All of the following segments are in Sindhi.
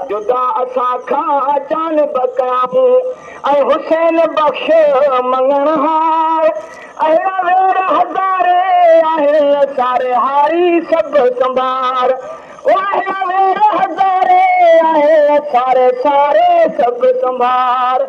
جدا اسان کان جان بڪائي اي حسين بخش مڱڻ هار اهڙا وير هزاري آهن ساري هاري سڀ سنڀار او اهڙا وير هزاري آهن ساري ساري سڀ سنڀار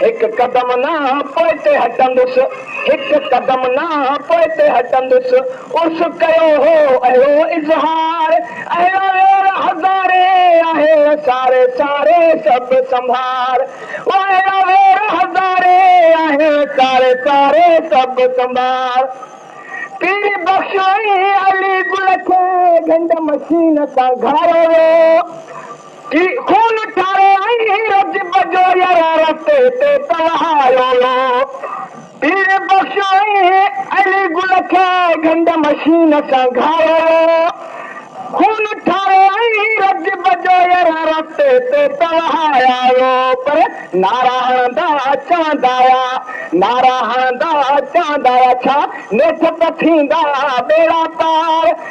هڪ قدم نه پوئتي هٽندس، هڪ قدم نه پوئتي هٽندس، عرس ڪيو هو اهڙو اظهار، اهڙا وير هزارين آهي ساري ساري سڀ سنڀار، او اهڙا وير هزارين آهي ساري ساري سڀ سنڀار، پير بخش ۽ علي گل کي گهنڊ مشين سان گهاريو ويو، ٿي خون ٺاري ۽ رجب جو يران رستي تي ته وهايو ويو پير بخش ۽ علي گل کي گهنڊ مشين سان گهايو ويو خون ٺاري ۽ رجب جو يران رستي تي ته وهايا ويو پر نعرا هڻندا چوندا آيا نعرا هڻندا چوندا آيا ڇا نيٺ ته ٿيندا ٻيڙا پار.